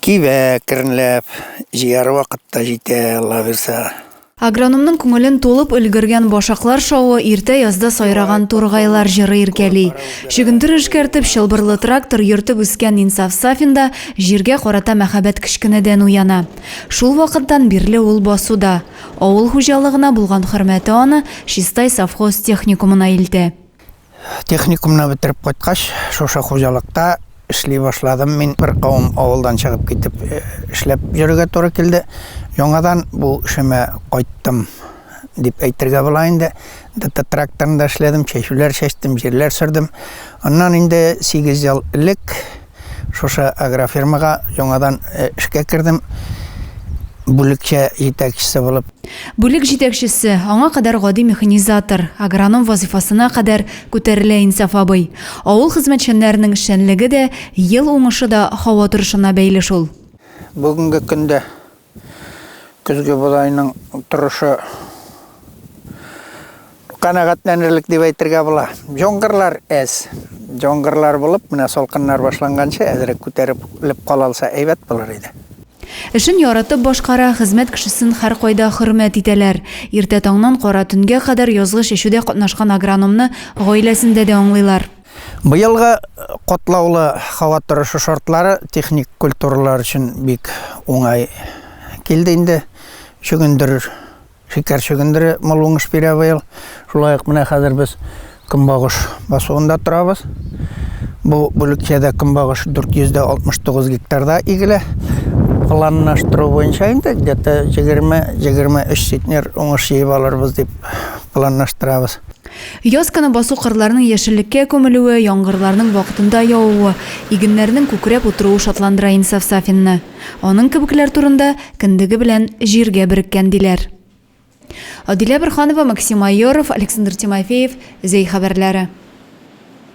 Кибә кернләп, җыяр вакыт та җитә, Алла бирса. Агрономның күңелен тулып өлгергән башаклар шавы иртә язда сайраган тургайлар җыры иркәли. Чөгендер эшкәртеп, чылбырлы трактор йөртеп үскән Инсаф Сафин да җиргә карата мәхәббәт кечкенәдән уяна. Шул вакыттан бирле ул басуда. Авыл хуҗалыгына булган хөрмәте аны Чистай совхоз техникумына илтә. Техникумны бетереп кайткач, шушы хуҗалыкта эшли башладым. Мин бер кавым авылдан чыгып китеп э, эшләп йөрергә туры килде. Яңадан бу эшемә кайттым дип әйтергә була инде. ДТ тракторында эшләдем, чәчүләр чәчтем, җирләр сөрдем. Аннан инде 8 ел элек Шушы агрофирмага яңадан эшкә кердем, бүлекчә җитәкчесе булып. Бүлек җитәкчесе, аңа кадәр гади механизатор, агроном вазыйфасына кадәр күтәрелә Инсаф абый. Авыл хезмәтчәннәренең эшчәнлеге дә, ел уңышы да һава торышына бәйле шул. Бүгенге көндә Көзге бодайның торышы канәгатьләнерлек дип әйтергә була. Җонгырлар әз. Җонгырлар булып, менә салкыннар башланганчы әзрәк күтәреп леп кала алса әйбәт булыр иде. Эшен яратып башкара, хезмәт кешесен һәркайда хөрмәт итәләр. Иртә таңнан кара төнгә кадәр язгы чәчүдә катнашкан агрономны гаиләсендә дә аңлыйлар. Быелгы катлаулы һава торышы шартлары техник культуралар өчен бик уңай килде инде. Чөгендер, шикәр чөгендере мул уңыш бирә быел. Шулай ук менә хәзер без көнбагыш басуында торабыз. Бу бүлекчәдә көнбагыш 469 гектарда игелә. Планлаштыру буенча инде где-то 20-23 центнер уңыш җыеп алырбыз дип планлаштырабыз. Ясканы басу кырларның яшеллеккә күмелүе, яңгырларның вакытында явуы, игеннәрнең күкрәп утыруы шатландыра Инсаф Сафинны. Аның кебекләр турында, Кендеге белән җиргә береккән, диләр. Адилә Борһанова, Максим Майоров, Александр Тимофеев, Зәй хәбәрләре.